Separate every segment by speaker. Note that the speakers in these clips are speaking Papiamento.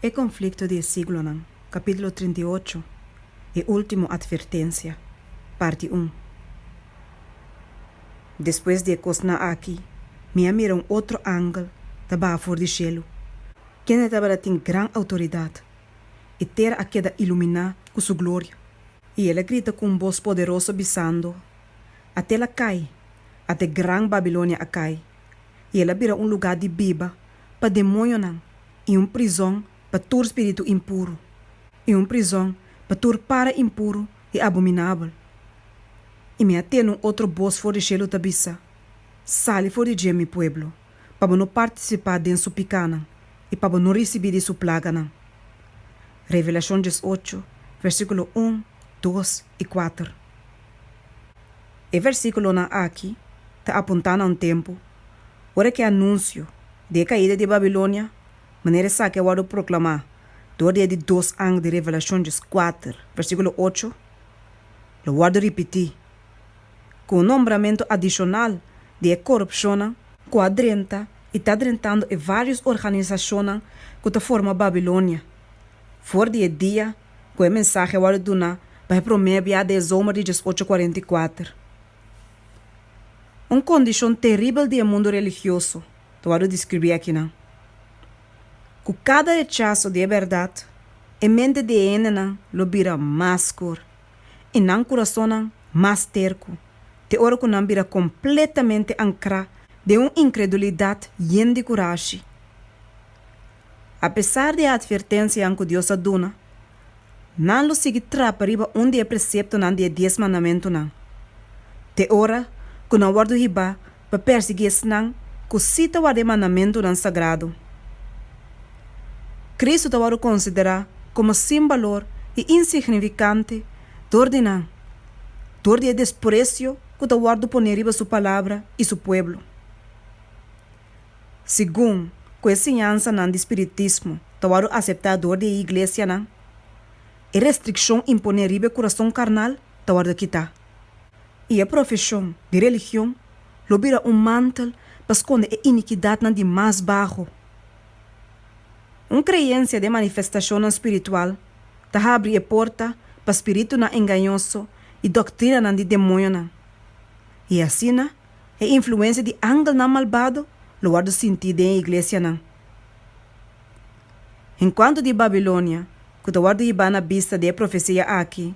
Speaker 1: E konflikto di e siglonan, kapítulo trinta i ocho, E último atvertensia, parti un. Despues di e kosnan aki, mi a mira un otro angel ta baha for di shelu, kende tabata tin gran outoridat, e tera a keda iluminá ku su gloria, i el a grita ku un bos poderoso bisando, Atel a kai, ate Gran Babilonia a kai, i el a bira un lugá di biba pa demoñonan i un prizon pa tur spiritu impuru i un prizon pa tur para impuru i abominabel. I mi a tene un otro bos for di shelu ta bisa, Sali for di dje, mi pueblo, pa bo no partisipá den su pikánan i pa bo no risibí di su plaganan. Revelashon dies ocho, versíkulo un, dos i kuater. E versíkulonan akí ta apuntá na un tempu Ora ku e anunsio di e kaida di Babilonia manera esaki a wòrdu proklamá dor di e di dos ang di Revelashonjis kuater, versíkulo ocho, lo wòrdu ripití ku un nombramentu adishonal di e korupshonnan ku a drenta i ta drentando e vários organisashonnan ku ta forma Babilonia, for di e dia ku e mensahe a wòrdu duna pa e promé biaha di e zomer di diesocho kuarenta i kuater. Un kondishon teribel di e mundu religioso ta wòrdu deskribí akinan. Ku kada rechaso di e bèrdat, e mente di e hendenan lo bira mas skur i nan kurasonnan mas terku, te ora ku nan bira kompletamente ankrá den un inkredulidat yen di kurashi. Apesar di e atvertensianan ku Dios a duna, nan lo sigui trapa riba un di e preseptonan di e Dies Mandamentunan. Te ora ku nan wòrdu hibá pa pèrsiguí esnan ku sí ta warda e mandamentunan sagrado, Kristu ta wòrdu konsiderá komo sin balor i insignifikante dor di nan, dor di e despresio ku ta wòrdu poné riba su palabra i su pueblo. Segun ku e siñansanan di spiritismo ta wòrdu aseptá dor di e iglesianan, e restrikshon imponé riba e kurason karnal ta wòrdu kitá, i e profeshon di religion lo bira un mantel pa skonde e inikidatnan di mas baho. Un kreensia den manifestashonnan spiritual ta habri e porta pa spiritunan engañoso i doktrinanan di demoñonan, i asina E influensia di angelnan malbado lo wòrdu sintí den e iglesianan. En kuantu di Babilonia ku ta wòrdu hibá na bista di e profesia akí,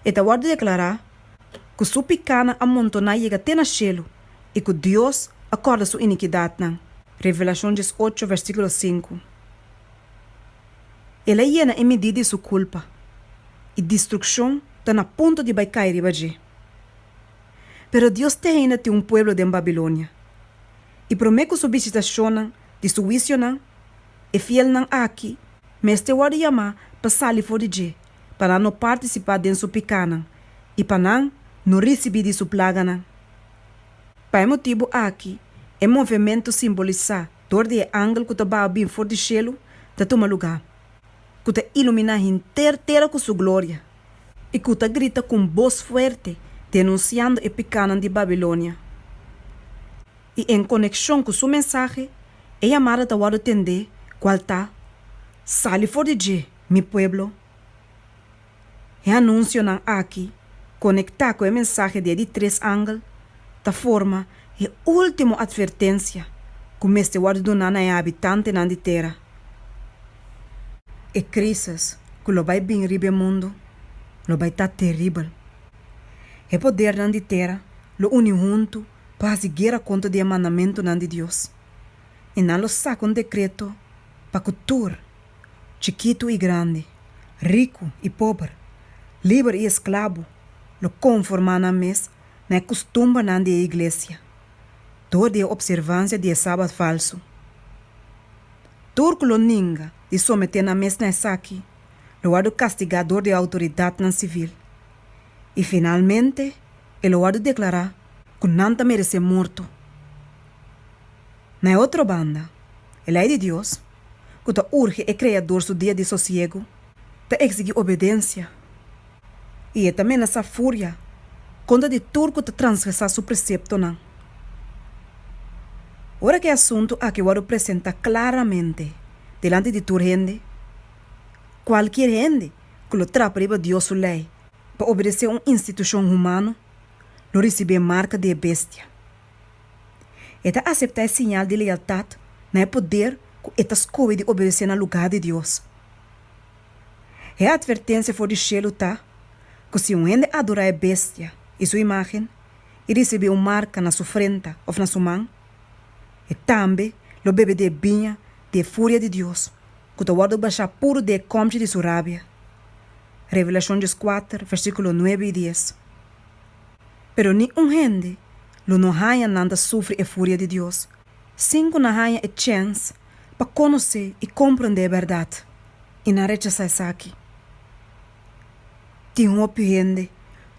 Speaker 1: e ta wòrdu deklará ku su pikánan a montoná yega te na shelu i ku Dios a kòrda su inikidatnan, Revelashon dies ocho, vèrsikulo sinku. El a yena e midí di su kulpa, i distrukshon ta na punto di bai kai riba dje. Pero Dios te heinda tin un pueblo den Babilonia. I promé ku su bishitashonnan di su huisionan, e fielnan aki mester wòrdu yamá pa sali for di dje, pa nan no partisipá den su pikánan i pa nan no risibí di su plaganan. Pa e motibu aki, e movementu simbolisá dor di e angel ku ta baha bin for di shelu ta tuma lugá, ku ta iluminá henter tera ku su gloria. I ku ta grita ku un bos fuerte denunsiando e pikanan di Babilonia. I en konekshon ku su mensahe, e yamada ta wòrdu tendé, kual ta, Sali for di dje, mi pueblo! E anunsionan aki, konektá ku e mensahe di e di tres angel, ta forma e último atvertensia ku mester wòrdu duná na e habitantenan di tera. E krísis ku lo bai bini riba e mundu lo bai ta teribel. E podernan di tera lo uni huntu pa hasi guera kontra di e mandamentunan di Dios, i nan lo saka un dekreto pa ku tur, chikitu i grandi, riku i pober, liber i esklabo, lo konformá nan mes na e kustumbernan di e iglesia. dor di e opservansia di e Sabat falsu. Tur ku lo ninga di someté nan mes na esaki lo wòrdu kastigá dor di outoridatnan sivil, i finalmente e lo wòrdu deklará ku nan ta meresé morto. Na e otro banda, e Lei di Dios, ku ta urge e Kreador su dia di sosiegu, ta eksigi obedensia i e ta menasá furia kontra di tur ku ta transgresá su preseptonan. Ora ku e asuntu akí wòrdu presentá klaramente dilanti di tur hende, kualkier hende ku lo trapa riba Dios su lei pa obedesé un institushon humano lo risibí e marka di e bestia. E ta aseptá e siñal di lealtat na e poder ku e ta skohe di obedesé na lugá di Dios. E atvertensia for di shelu ta ku si un hende adorá e bestia i su imágen i risibí un marka na su frenta òf na su man, e tambe lo bebe di e biña di e furia di Dios ku ta wòrdu bashá puru di e kòmchi di su rabia. Revelashon dies kuater, versíkulo nuebe i dies. Pero ni un hende lo no haña nan ta sufri e furia di Dios sin ku nan haña e chèns pa konosé i komprondé e bèrdat, i nan rechasá esaki. Tin hopi hende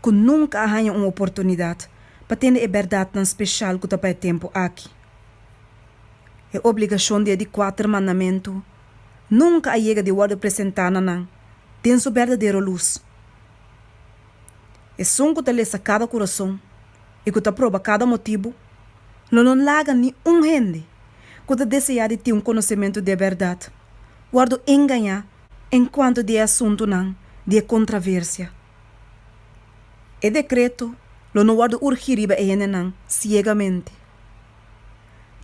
Speaker 1: ku nunka a haña un oportunidat pa tende e bèrdatnan speshal ku ta pa e tempu aki. E obligashon di e di kuater mandamentu nunka a yega di wòrdu presentá na nan den su berdadero lus. Esun ku ta lesa kada kurason i ku ta proba kada motibu, lo no laga ni un hende ku ta deseá di tin un konosementu di e bèrdat wòrdu engañá enkuanto di e asuntunan di e kontraversia. E dekreto lo no wòrdu urgí riba e hendenan siegamente.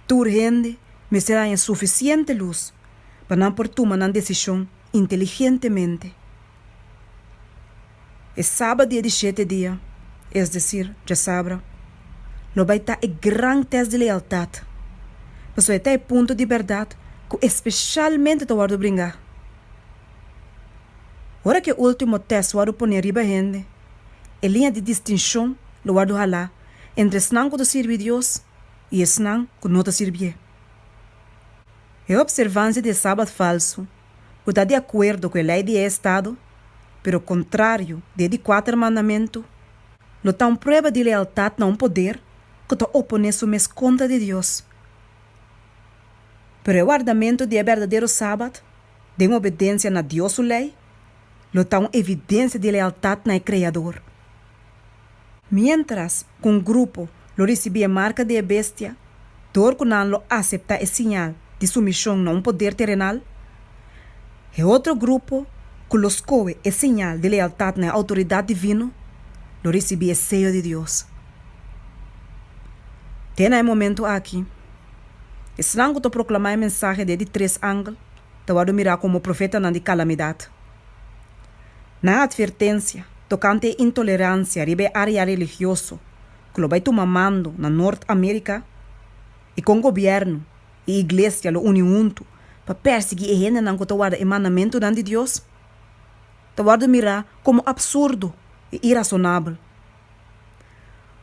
Speaker 1: Tur hende mester haña sufisiente lus pa nan por tuma nan desishon inteligentemente. E saba dia di shete dia, es desir, djasabra, lo bai ta e gran tèst di lealtat, pasobra e ta e punto di bèrdat ku espeshalmente ta wòrdu bringá. Ora ku e último tèst wòrdu pone riba hende, e liña di distinshon lo wòrdu halá entre esnan ku ta sirbi Dios i esnan ku no ta sirbié. E opservansia di e Sabat falsu ku ta di akuerdo ku e lei di e estado, pero kontrario di e di kuater mandamentu, lo ta un prueba di lealtat na un poder ku ta oponé su mes kontra di Dios. Pero e wardamentu di e berdadero Sabat, den obedensia na Dios su lei, lo ta un evidensia di lealtat na e Kreador. Miéntras ku un grupo lo risibí e marka di e bestia, dor ku nan lo aseptá e siñal di sumishon na un poder terenal, e otro grupo ku lo skohe e siñal di lealtat na e outoridat divino, lo risibí e seyo di Dios. Te na e momentu aki, esnan ku ta proklamá e mensahe di e di tres angel ta wòrdu mirá komo profetanan di kalamidat. nan atvertensia tokante e intoleransia riba e área religioso ku lo bai tuma mando na Nort Amérika i kon gobièrnu i iglesia lo uni huntu pa pèrsiguí e hendenan ku ta warda e mandamentunan di Dios ta wòrdu mirá komo absurdo i irasonabel.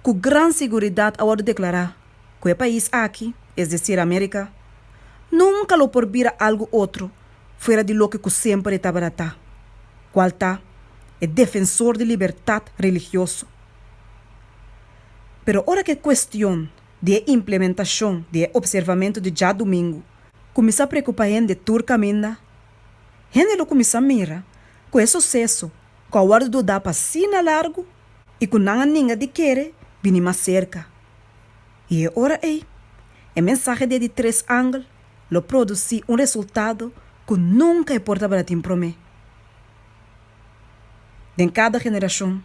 Speaker 1: cu gran siguridat a wordo declara cu e pais aki, es decir America, nunca lo por bira algo otro fuera di loke cu semper e tabata ta, cual ta e defensor di libertad religioso. Pero ora cu e cuestion di e implementacion di e observamento di Djadomingo cuminsa preocupa hende tur caminda, hende lo cuminsa mira cu e suceso, ku a wòrdu dudá pa asina largu i ku nan a ninga di kere bini mas serka. I e ora ei, e mensahe di e di tres angel lo produsí un resultado ku nunka e por tabata tin promé. Den kada generashon,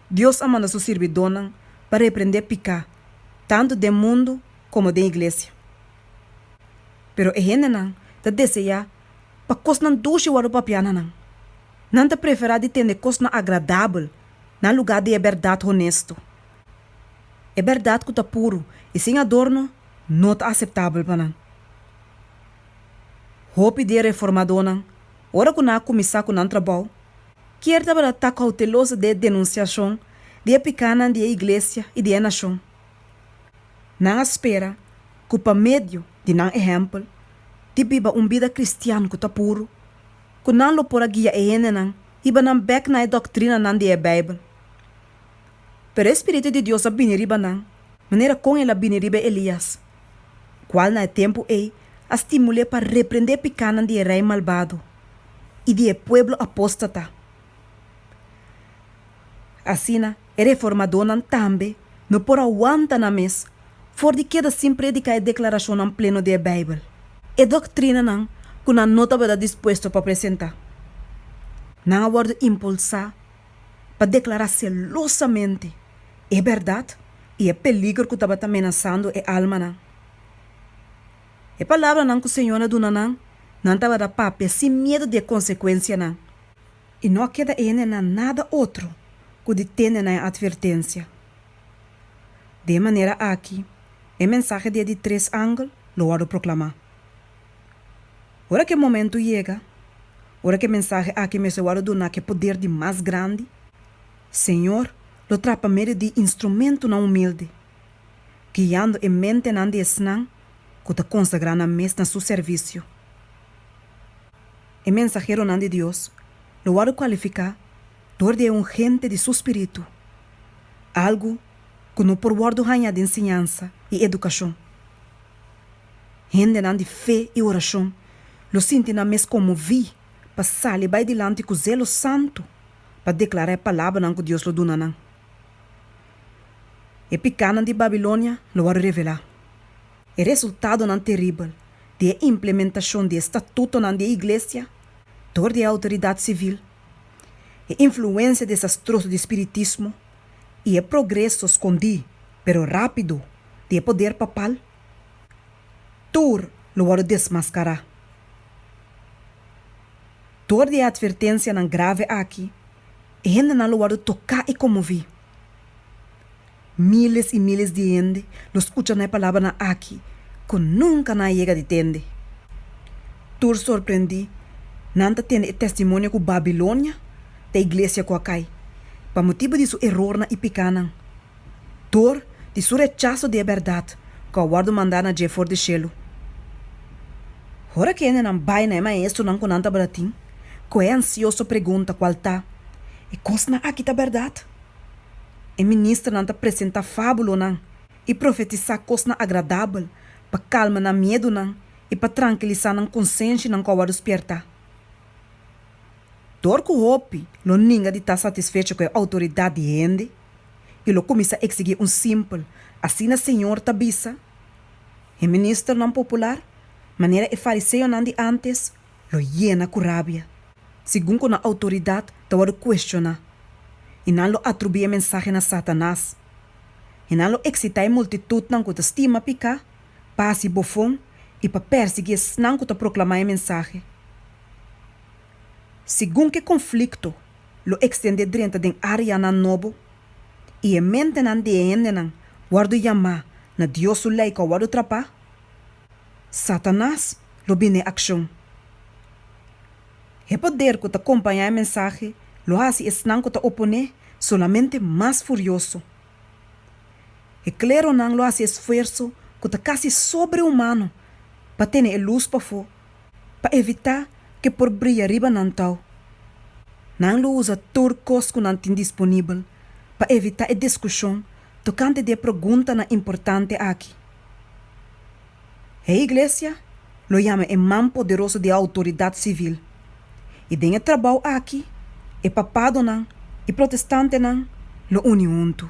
Speaker 1: Dios a manda su sirbidónan pa reprendé piká, tantu den mundu komo den iglesia. Pero e hendenan ta deseá pa kosnan dushi wòrdu papiá na nan. Nan ta preferá di tende kosnan agradabel na lugá di e bèrdat honesto. E bèrdat ku ta puru i sin adorno no ta aseptabel pa nan. Hopi di e reformadónan, ora ku nan a kuminsá ku nan trabou, kier tabata ta kouteloso di e denunsiashon di e pikánan di e iglesia i di e nashon. Nan a spera ku pa medio di nan ehèmpel di biba un bida kristian ku ta puru, ku nan lo por a guia e hendenan hiba nan bèk na e doktrinanan di e Beibel. Pero e spiritu di Dios a bini riba nan manera kon el a bini riba Elias, kual na e tempu ei a stimul'é pa reprendé e pikánan di e rei malbado i di e pueblo apóstata. Asina, E reformadónan tambe no por a wanta nan mes for di keda sin prediká e deklarashonnan pleno di e Beibel, e doktrinanan ku nan no tabata dispuesto pa presentá. Nan a wòrdu impulsá pa deklará selosamente e bèrdat i e peligro ku tabata menasando e almanan. E palabranan ku Señor a duna nan, nan tabata papia sin miedu di e konsekuensianan. I no a keda ene na nada otro ku di tende na e atvertensia. Di e manera aki e mensahe di e di tres angel lo wòrdu proklamá. Ora ku e momentu yega, ora ku e mensahe aki mester wòrdu duna ku e poder di mas grandi, Señor lo traha pa medio di instrumentunan humilde, guiando e mentenan di esnan ku ta konsagrá nan mes na su servisio. E mensaheronan di Dios lo wòrdu kualifiká dor di e ungente di su Spiritu, algu ku no por wòrdu haña den siñansa i edukashon. Hendenan di fe i orashon lo sinti nan mes konmoví pa sali bai dilanti ku zelo santu pa deklará e palabranan ku Dios lo duna nan. E pikánan di Babilonia lo wòrdu revelá. E resultadonan teribel di e implementashon di e statutonan di e iglesia dor di e outoridat sivil, e influensia desastroso di spiritismo i e progreso skondí pero rápido di e poder papal, tur lo wòrdu desmaskará. Dor di e atvertensianan grave aki, e hendenan lo wòrdu toká i konmoví. Miles i miles di hende lo skucha na e palabranan aki ku nunka nan a yega di tende. Tur sorprendí, nan ta tene e testimonio ku Babilonia ta e iglesia ku a kai, pa motibu di su erornan i pekanan, dor di su rechaso di e bèrdat ku a wòrdu mandá na dje for di shelu. Ora ki e hendenan bai na e maestronan ku nan tabata tin ku e ansioso pregunta, kual ta, E kosnan aki ta bèrdat? E ministernan ta presentá fábulonan i profetisá kosnan agradabel pa kalma nan miedunan i pa trankilisá nan konsenshianan ku a wòrdu spiertá. Dor ku hopi lo ninga di ta satisfecho ku e outoridat di hende i lo kuminsá eksigí un simpel Asina Señor ta bisa, e ministernan popular, manera e fariseonan di ántes, lo yena ku rabia, segun ku nan outoridat ta wòrdu kuestioná, i nan lo atribuí e mensahe na Satanas, i nan lo eksitá e multitutnan ku ta stima piká pa hasi bofon i pa pèrsiguí esnan ku ta proklamá e mensahe. Segun ku e konflikto lo ekstendé drenta den áreanan nobo, i e mentenan di e hendenan wòrdu yamá na Dios su Lei ku a wòrdu trapá, Satanas lo bini e akshon. E poder ku ta kompañá e mensahe lo hasi esnan ku ta oponé solamente mas furioso. E kleronan lo hasi esfuerso ku ta kasi sobrehumano pa tene e lus pafó pa evitá ku e por bria riba nan tau. Nan lo usa tur kos ku nan tin disponibel pa evitá e diskushon tokante di e preguntanan importante aki. E Iglesia lo yama e man poderoso di e outoridat sivil, i den e trabou aki e papadonan i protestantenan lo uni huntu.